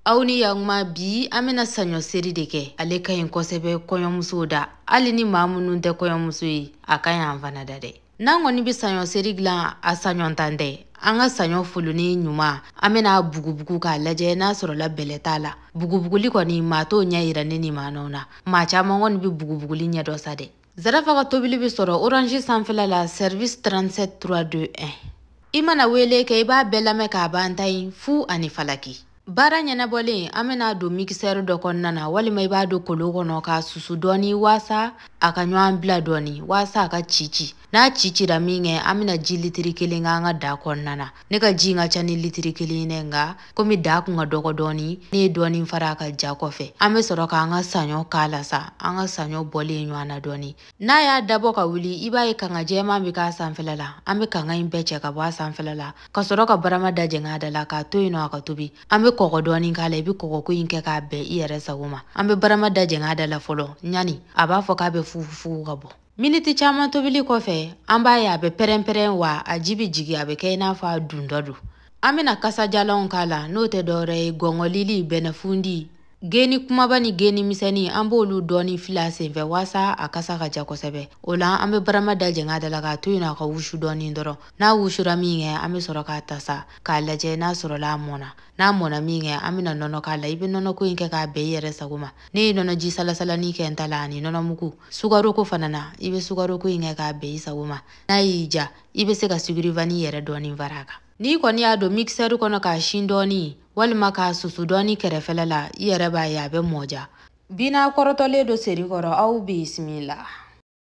aw ni ya ɲuman bi an bena saɲɔ seri de kɛ ale ka ɲi kosɛbɛ kɔɲɔmusow da hali ni maa minnu tɛ kɔɲɔmuso ye a ka ɲi an fana da dɛ n'an kɔni be saɲɔ seri dilan a saɲɔntan tɛ an ka saɲɔ foloni ɲuman an bena a bugubugu k'a lajɛ n'a sɔrɔla bɛlɛ t'a la bugubuguli kɔni maa t'o ɲɛ yira ne ni maanɔw na maa caaman kɔni be bugubuguli ɲɛ dɔn sa dɛ zarafa ka tobili bɛ sɔrɔ orange sanfɛla la service 37 321 i mana wele kɛ i b'a bɛɛ lamɛn k'a ban tan in fu ani falaki baara ɲɛnabɔlen an bɛna a don mikisɛri dɔ kɔnɔna na walima i b'a don kolo kɔnɔ k'a susu dɔɔni waasa a ka ɲɔgɔn bila dɔɔni waasa a ka cici n'a cicira min kɛ an bɛna ji litiri kelen kɛ an ka daa kɔnɔna na ne ka ji ka ca ni litiri kelen ye nka komi da kun ka dɔgɔ dɔɔni ne ye dɔɔni fara a kan ja kɔfɛ an be sɔrɔ k'an ka saɲɔ k'a la sa an ka saɲɔ bɔlen ɲɔgɔn na dɔɔni n'a y'a dabɔ ka wuli i b'a ye kanga jɛman be k'a sanfɛla la an be kanga in bɛɛ cɛ ka bɔ a sanfɛla la ka sɔrɔ ka barama da jɛng'a da la k'a to yen nɔ a ka tobi an be kɔgɔ dɔɔni k'a la i be kɔgɔko in kɛ k'a bɛn i yɛrɛ sago ma an be barama da jɛng'a da la fɔlɔ yani a b'a fɔ k'a be fufufugu ka bɔ miniti caman tobili kɔfɛ an b'a ye a bɛ pɛrɛnpɛrɛn wa a ji bɛ jigin a bɛ kɛ i n'a fɔ a dundɔ don an bɛna kasajalanw k'a la n'o tɛ dɔwɛrɛ ye gɔngɔlili bɛnɛfundi geni kumaba ni geni misɛnni an b'olu dɔɔni fili a senfɛ waasa a kasa ka ja kosɛbɛ o la an bɛ barama da jɛng'a da la k'a to yen a ka wusu dɔɔni dɔrɔn n'a wusura min kɛ an bɛ sɔrɔ k'a tasa k'a lajɛ n'a sɔrɔla a mɔna n'a mɔna min kɛ an bɛna nɔnɔ k'a la i bɛ nɔnɔko in kɛ k'a bɛn i yɛrɛ sago ma ne ye nɔnɔji salasalani kɛ n ta la ani nɔnɔmugu sukaroko fana na i bɛ sukaroko in kɛ k'a bɛn i sago ma n'a y'i ja i bɛ se ka sucre vanille yɛrɛ dɔɔni fara a kan n'i kɔni y'a don mikisɛri kɔnɔ k'a si dɔɔni walima k'a susu dɔɔni kɛrɛfɛla la i yɛrɛ b'a ye a bɛ mɔja bi n'a kɔrɔtɔlen don seri kɔrɔ aw bisimila